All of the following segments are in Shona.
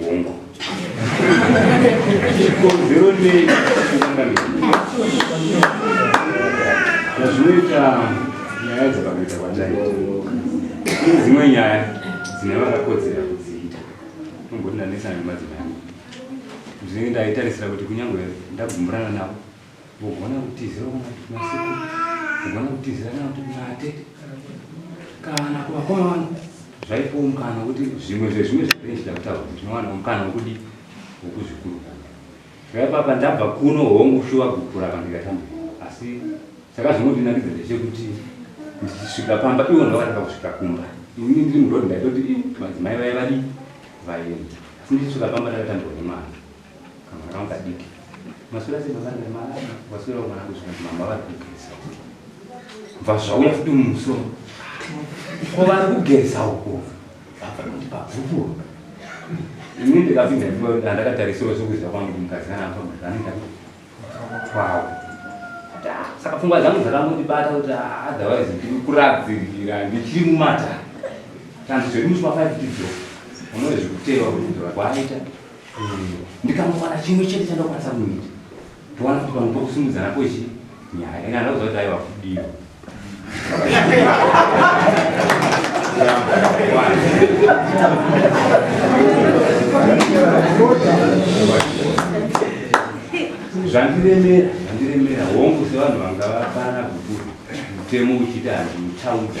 Hongu. Chikonzero nei zvinoita nyaya dzakakuita kwachaita ine dzimwe nyaya dzine vakakodzera kudziita unomboti ndanetsana nemadzimai angu zvinenge ndaitarisira kuti kunyange ndagumburana navo Kugona kutizira kuna masiku, kugona kutizira kana kuti kuna atete kana kuvakoma vangu zvaipiwo mukana wekuti zvimwe zvezvimwe zvainge zvichida kutaurwa ndinowana mukana wekudii wekuzvikurukura zvaipapa ndabva kuno hongu shuwa gukura kana ndikatamba asi chakazongondinakidza ndechekuti ndichisvika pamba ivo ndovakatanga kusvika kumba ini ndiri mudhodhi ndaitoti madzimai vaiye vadii vaienda asi ndichisvika pamba ndakatambirwa nemwana Kamwana wanga diki. Maswera sei baba nda mara waswera mwana wangu zvino mama vari kugeza. Bva zvauya futi mumusoro. Ko vari kugeza uko. Baba kuti pabvuku. Ini ndikapinda ndipo ndakatarisira zvokuzva kwangu kuti mukadzi kana apa mudhani kwawo. Saka pfungwa dzangu dzakangondibata kuti ah, otherwise ndiri kuradzirira ndichiri mumata. Tanzi zviri muchima 5 tidzo. Unowe zvikutewa kuti ndora kwaita. ndikamuwana chimwe chete chandakwanisa kuita towana kuti pamwe pokusimudza nako ichi nyaya kana ndauza kuti aiwa kudiwa zvandiremera zvandiremera hongu sevanhu vanga vafanana kuti mutemo uchiti handiutaudza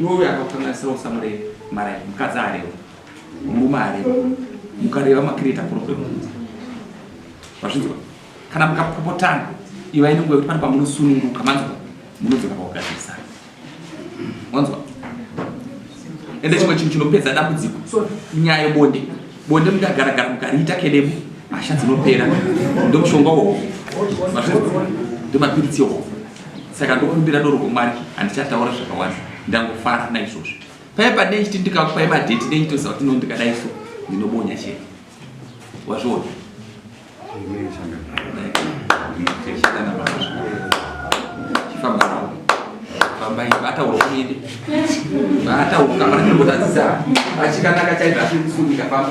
Iwe uyo akakukanganisira usamureve marai mukadzi areva murume areva mukareva makireta problem vazvinzwa kana mukapopotana ivai nenguva yekuti pane pamunosununguka manzwa munodzoka pakugadzirisana wanzwa ende chimwe chinhu chinopedza dambudziko nyaya yebonde bonde mukagaragara mukariita kedemu hasha dzinopera ndomushonga woho mazvinzwa ndomapiritsi yohoho saka ndokumbira doro kwamwari handichataura zvakawanda ndangofara naizvozvo paye pane chiti ndikakupai madheti nechitoziva kuti nondikadai so ndinobonya chete wazviona chifambanawo fambai vataura kuende vataura kamana ndinotadzisa achikanaka chaizvo asiri kusunika famba